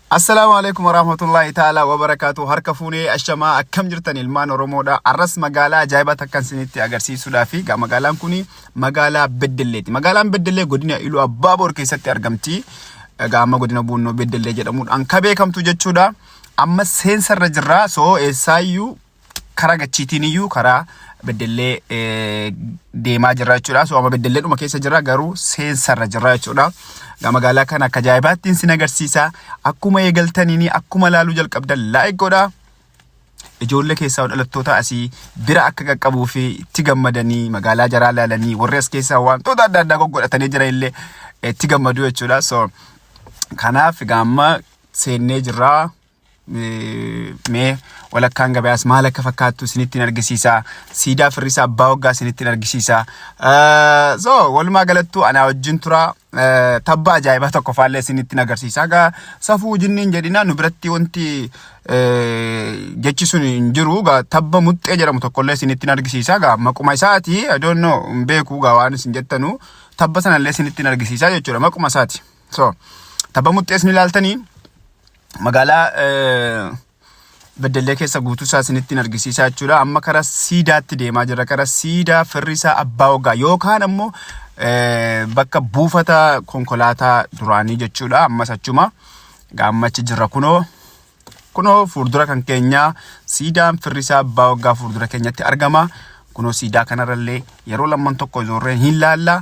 Assalaamu alaikum warahmatullahi ta'ala wabarakaatu harka fuunee ashamaa akkam jirtan ilmaan oromoodha arras magaalaa ajaa'ibaa takkan isinitti agarsiisuudhaa fi ga- magaalaan kun magaalaa beddelleeti magaalaan beddellee godina iluu abbaa boor keessatti argamti egaa amma godina buunnoo beddellee jedhamuudhaan ka beekamtu jechuudha amma seensarra jirra soo eessaayyuu karaa gachiitiin iyyuu karaa beddellee deemaa jirra jechuudha. So amma beddellee dhuma keessa jirra garuu seensarra jirra jechuudha. Magaalaa kana akka ajaa'ibaatti isin agarsiisa. Akkuma eegaltaniin akkuma laaluu jalqabdan laayik godhaa. Ijoollee keessaa dhalattoota asii bira akka qaqqabuu fi itti gammadanii magaalaa jaraa laalanii warri as keessaa wantoota adda addaa goggodhatanii jira illee itti gammadu jechuudha. So kanaaf gaamma seennee jirraa. mee walakkaan gabayaas maal akka fakkaattu isinitti argisiisa. Siidaa firrisaa abbaa waggaa isinitti argisiisa. So walumaa galattuu anaa wajjin tura tabba ajaa'ibaa tokko faallee isinitti agarsiisa. Egaa safuu jinniin jedhina nu biratti wanti jechi sun hin jiru. Egaa tabba muxxee jedhamu tokkollee isinitti argisiisa. Egaa maquma isaati I don't know hin beeku egaa waan isin jettanu tabba sanallee isinitti argisiisa jechuudha maquma isaati. So tabba muxxee isin ilaaltanii magaalaa Beddellee keessa guutuu isaa isinitti argisiisaa jechuudha. Amma karaa siidaatti deemaa jirra. Karaa siidaa firri isaa abbaa waggaa yookaan ammoo bakka buufata konkolaataa duraanii jechuudha. Ammas achuma gaammachi jirra kunoo. Kunoo fuuldura kan keenyaa siidaan firri isaa abbaa waggaa fuuldura keenyatti argama. Kunoo siidaa kanarrallee yeroo lamman tokko ijoorreen hin laalla.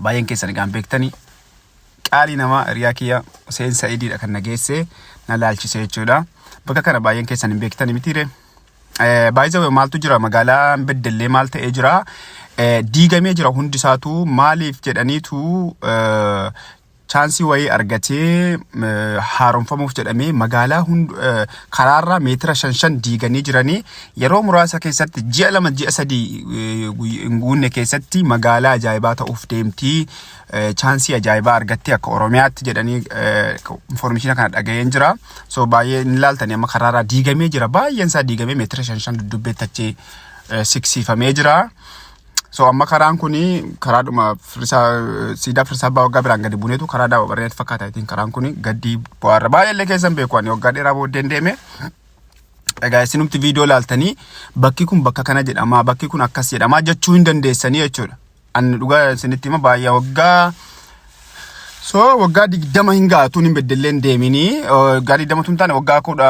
Baay'een keessan egaan beektani. Qaalii namaa hiriyaa kiyya Huseen Sa'idiidha kan na geesse na laalchisee jechuudha. Bakka kana baay'een keessan hin beektani mitiire. Baay'ee maaltu jira magaalaa beddellee maal ta'ee jira. Diigamee jira hundi isaatu maaliif jedhaniitu chaansii wayii argatee haaromfamuuf jedhamee magaalaa hund karaarraa meetira shan shan diiganii jiranii yeroo muraasa keessatti ji'a lama ji'a sadii hin guunne keessatti magaalaa ajaa'ibaa ta'uuf deemtii chaansii ajaa'ibaa argattee akka oromiyaatti jedhanii infoormeeshina kana dhaga'een jira so baay'ee hin ilaaltanii amma karaarraa diigamee jira baay'een isaa diigamee meetira shan shan duddubbee tachee siksiifamee jira. So amma karaan kun karaadhuma firrisaa siidaa firrisaa abbaa waggaa biraan gadi buuneetu karaa daawwa barreetti fakkaata ittiin karaan kun gaddii bu'aarra baay'ee illee keessan beeku ani waggaa dheeraa booddeen deeme. Egaa isinumti viidiyoo laaltanii bakki kun bakka kana jedhama bakki kun akkas jedhama jechuu hin dandeessanii jechuudha. Ani dhugaa isinitti hima baay'ee waggaa So waggaa digdama hin ga'a tun hin beddelleen deemini. Waggaa digdama tun taane waggaa kudha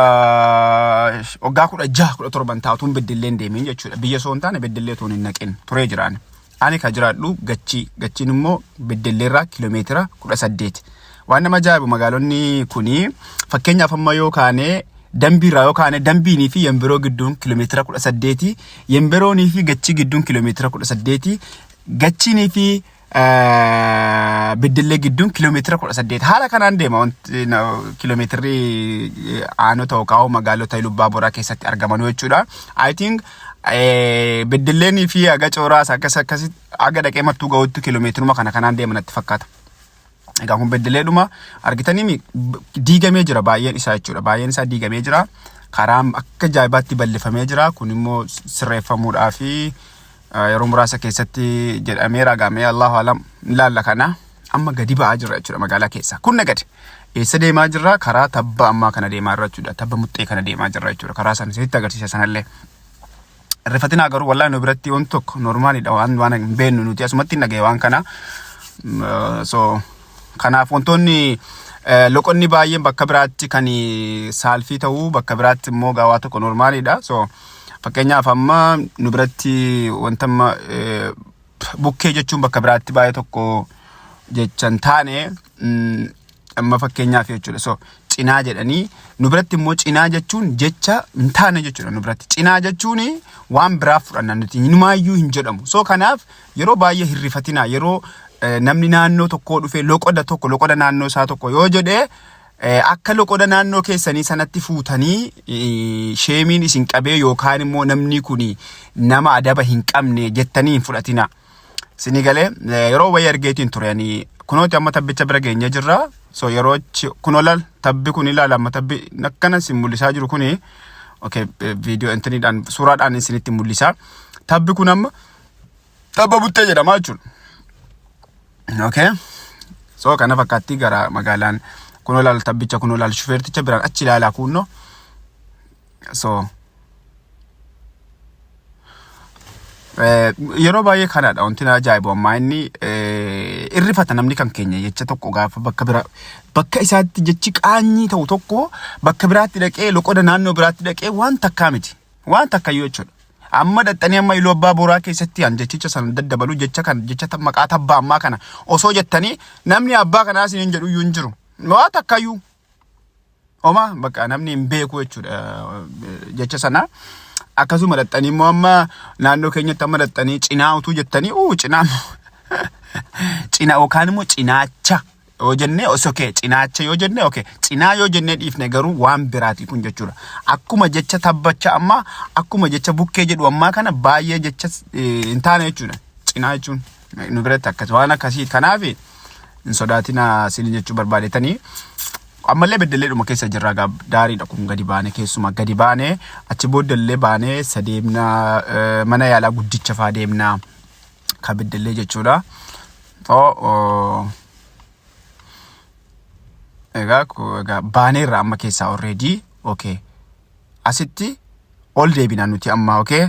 waggaa kudha jaha kudha torban ta'a tun beddelleen deemin jechuudha. Biyya soo hin taane beddellee tun hin naqin turee jiraan. Ani ka jiraadhu gachii gachiin immoo beddelleerraa kiiloomeetira kudha saddeet. Waan nama ajaa'ibu magaalonni kuni fakkeenyaaf amma yoo kaane dambiirraa yoo kaane dambiinii fi yembiroo gidduun kiiloomeetira kudha saddeeti. Yembiroonii fi gachii gidduun kiiloomeetira kudha saddeeti. Gachiinii fi Beddellee gidduun kiiloomeetira kudha saddeet haala kanaan deema wanti kiiloomeetirri aanota yookaan magaalota Ilubbaa Boraa keessatti argamanuu jechuudha. I think Beddelleen fi Aga Cooraas akkas akkasitti Aga dhaqee mattuu ga'utti kiiloomeetiruma kana kanaan deema natti fakkaata. Egaa kun beddeleedhuma argitanii diigamee jira baay'een isaa jechuudha. Baay'een isaa diigamee jira. Karaan akka ajaa'ibaatti bal'ifamee jira. Kun immoo sirreeffamuudhaa fi yeroo muraasa keessatti jedhamee raagamee Allahu alam ilaalla kana amma gadi ba'aa jira jechuudha magaalaa keessa. Kun nagadi. Eessa deemaa jirra? Karaa tabba ammaa kana deemaa jirra jechuudha. Tabba muxxee kana deemaa jirra jechuudha. Karaa sana isinitti agarsiisa sanallee. Rifatinaa garuu wallahi nu biratti wanti tokko normaalidha waan waan hin beeknu nuti asumatti hin dhagaye waan kana. Mm, eh, So kanaaf wantoonni eh, loqonni baay'een bakka biraatti kan saalfii ta'u bakka biraatti immoo gaawaa tokko normaalidha. So fakkeenyaaf amma nu biratti wanta amma eh, bukkee jechuun bakka biraatti baay'ee tokko jecha hin taane mm, amma fakkeenyaaf jechuudha. So cinaa jedhanii nu biratti immoo cinaa jechuun jecha hin taane jechuudha nu biratti. Cinaa jechuun waan biraaf fudhanna nuti inumaayyuu hin jedhamu. So kanaaf yeroo baay'ee hirrifatinaa yeroo eh, namni naannoo tokkoo dhufee loqoda tokko loqoda naannoo isaa tokko yoo jedhee Akka loqoda naannoo keessanii sanatti fuutanii sheemiin isin qabee yookaan immoo namni kun nama adaba hin qabne jettanii hin fudhatina. Sini galee yeroo wayii argeetiin ture ani kunooti amma tabbicha bira geenyee jirra. So yeroo kunoo laal tabbi kun ilaala amma tabbi akkana sin mul'isaa jiru kuni okay viidiyoo intiniidhaan suuraadhaan isinitti mul'isa. Tabbi kun amma Tabba buttee jedhama jechuudha. Okay. So kana fakkaatti gara magaalaan kun olaal tabbicha kun olaal shufeerticha biraan achi ilaalaa kuunnoo. So yeroo baay'ee kanadha wanti na ajaa'ibu ammaa inni irrifata namni kan keenya jecha tokko gaafa bakka bira bakka isaatti jechi qaanyii ta'u tokko bakka biraatti dhaqee loqoda naannoo biraatti dhaqee waan takkaa miti waan takkayyuu jechuudha. Amma dhaxxanii amma Iluu Abbaa Booraa keessatti an jechicha sana daddabalu jecha kan jecha ta- maqaa tabbaa ammaa kana osoo jettanii namni abbaa kanaa isin hin jedhu iyyuu hin jiru. Waa takkayyuu Oma bakka namni hin beeku jechuudha eh, jecha sana. Akkasuma dhaxxanii immoo amma naannoo keenyatti amma dhaxxanii cinaa utuu jettanii uu cinaa cinaa yookaan immoo cinaacha yoo jennee os okay cinaacha yoo jennee okay cinaa yoo jennee dhiifne garuu waan biraatii kun jechuudha. Akkuma jecha tabbacha ammaa akkuma jecha bukkee jedhu ammaa kana baay'ee jecha eh, hin taane jechuudha. Cinaa jechuun nu biratti akkas waan akkasii kanaaf hin sodaatina siin jechuu barbaadetanii ammallee beddelleedhuma keessa jirra gaa daariidha kun gadi baane keessuma gadi baane achi booddellee baane sadeemna eh, mana yaalaa guddicha faa deemna ka beddellee jechuudha. Too egaa egaa baaneerra amma keessaa already okay. Asitti ol deebina nuti amma okay.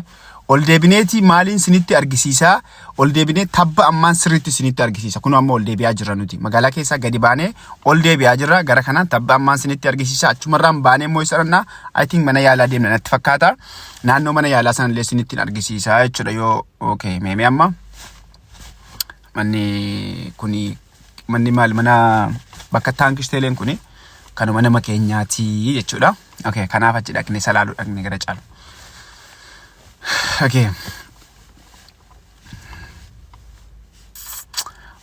Ol deebineeti maaliin sinitti argisiisaa ol deebinee tabba ammaan sirriitti sinitti argisiisa kun amma ol deebi'aa jirra nuti magaalaa keessaa gadi baanee ol deebi'aa jirra gara kanaan tabba ammaan sinitti argisiisa achumarraan baanee immoo isa dhannaa I think mana yaalaa deemna natti fakkaata naannoo mana yaalaa sanallee sinitti argisiisa jechuudha yoo okay meemee amma. manni kuni manni maal mana bakka taankii teeleen kuni kanuma nama keenyaati jechuudha. Okay, kanaaf achi dhaqne salaaluu dhaqne gara caalu. Okay.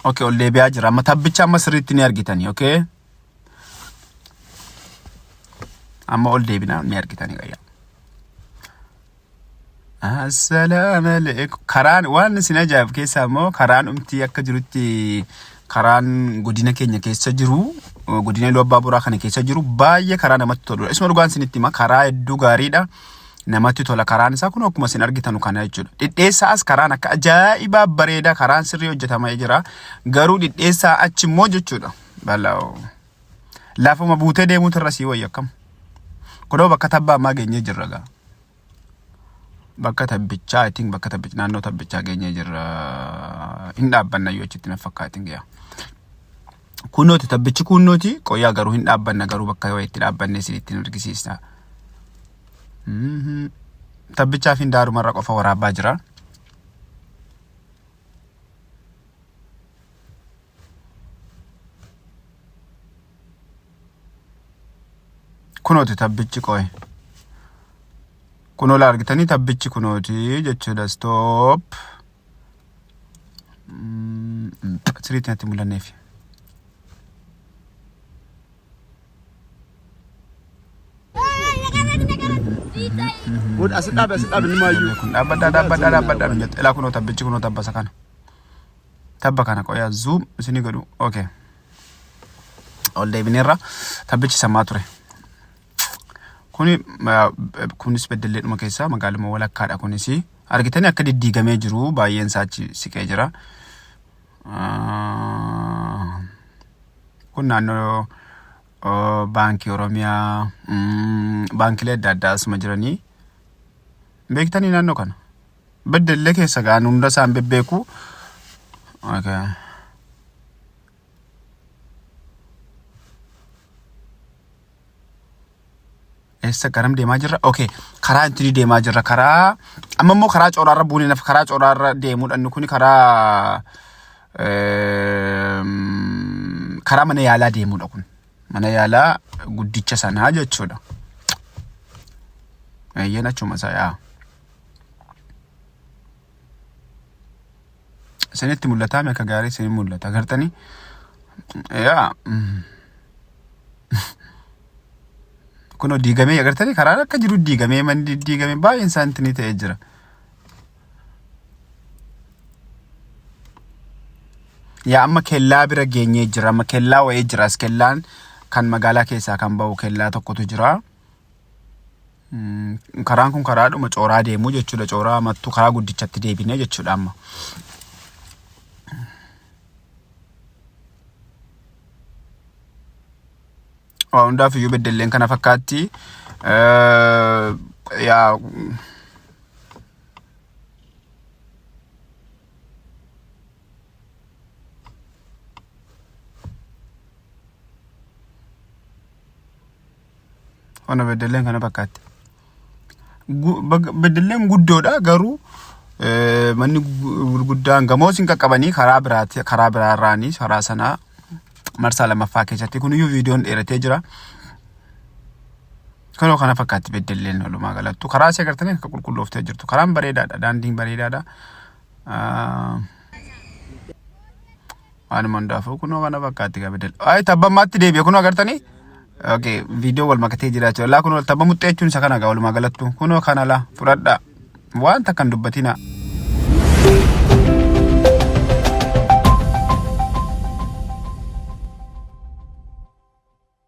Okay, ol deebi'aa jira. Amma tabbicha amma sirriitti ni argitani, okay? Amma ol deebina ni argitani gayyaa. Assalaamu alaikum. Karaan waan isin ajaa'ib keessaa immoo karaan umtii akka jirutti karaan godina keenya keessa jiru eh, godina Iluu Abbaa Boraa kana keessa jiru baay'ee karaa namatti toludha. Isuma dhugaan isinitti hima karaa hedduu gaariidha. Namatti tola karaan isaa kun akkuma isin argitan kana jechuudha. Dhidheessaa as karaan akka ajaa'ibaa bareedaa karaan sirrii hojjetamee jira. Garuu dhidheessaa achi immoo jechuudha. Balaa. Lafuma buutee deemuutu irra sii wayya akkam. Kunoo bakka tabbaa ammaa geenyee jirra gaa. Bakka tabbichaa I think bakka tabbichaa naannoo tabbichaa geenyee jirra. Hin dhaabbanna yoo achitti na fakkaatin gaa. Kunnooti tabbichi kunnooti qoyaa garuu hin dhaabbanna garuu bakka yoo itti dhaabbanne isin ittiin argisiisna. Mhm. Tabbichaa fi daarumarra qofa waraabaa jira. Kunooti tabbichi qoy. Kunoo argitanii tabbichi kunooti jechuudha stop. Mm, Siriitti natti mul'anneef. Godha as dhaabe as dhaabe ni maayyuu. Kun dhaabbadhaa dhaabbadhaa dhaabbadhaa nu jette. Ilaa kunoo tabbichi kunoo tabbasa kana. tabba kana qoyaa zoom isini godhu okay ol deebineerra tabbichi sammaa ture kuni ma- kunis beddelleedhuma keessaa magaaluma walakkaadha kunis argitanii akka diddiigamee jiru baay'een isaa achi siqee jira Ah, kun naannoo oh, baankii oromiyaa mm, baankilee adda addaa asuma jiranii beektanii naannoo kana Beddellee keessa ga'an hunda isaan bebbeeku. Okay. Eessa garam deemaa jirra? Okay. Karaa ittiin deemaa jirra. Karaa amma immoo karaa cooraarra buunee nafa karaa cooraarra deemuudha. Inni kun karaa ehm, karaa mana yaalaa deemuudha kun. Mana yaalaa guddicha sanaa jechuudha. Eeyyeen achuma isaa yaa. Isinitti mul'ataa akka gaarii isin mul'ata. Agartanii? Yaa. Kunoo diigamee agartanii karaa akka jiru diigamee manni diigamee baay'een isaanitti ni ta'ee jira. Yaa amma kellaa bira geenyee jira. Amma kellaa wa'ee jira. As kellaan kan magaalaa keessaa kan ba'u kellaa tokkotu jira. Karaan kun karaadhuma cooraa deemu jechuudha. Cooraa mattuu karaa guddichatti deebinee jechuudha amma. Waa hundaaf iyyuu beddelleen kana fakkaatti. Yaa Ona beddelleen kana fakkaatti. Gu- bag- Beddelleen guddoodha garuu eh, manni gu- gurguddaan gamoos hin qaqqabanii karaa biraati karaa biraa irraanii karaa sanaa marsaa lammaffaa keessatti kuniyyuu viidiyoon dheeratee jira. Kanoo kana fakkaatti beddelleen walumaa galattu karaa si agartanii akka qulqullooftee jirtu karaan bareedaadha daandiin bareedaadha. Ah, Waanuma hundaafuu kunoo kana fakkaatti kabidal. Ay tabba ammaatti deebi'e kunoo agartanii? Okay, viidiyoo wal makatee jira jechuudha. Laa kunoo tabba muxxee jechuun isa kana gaa walumaa galattu. Kunoo kana laa fudhadhaa. Waan takka hin dubbatinaa.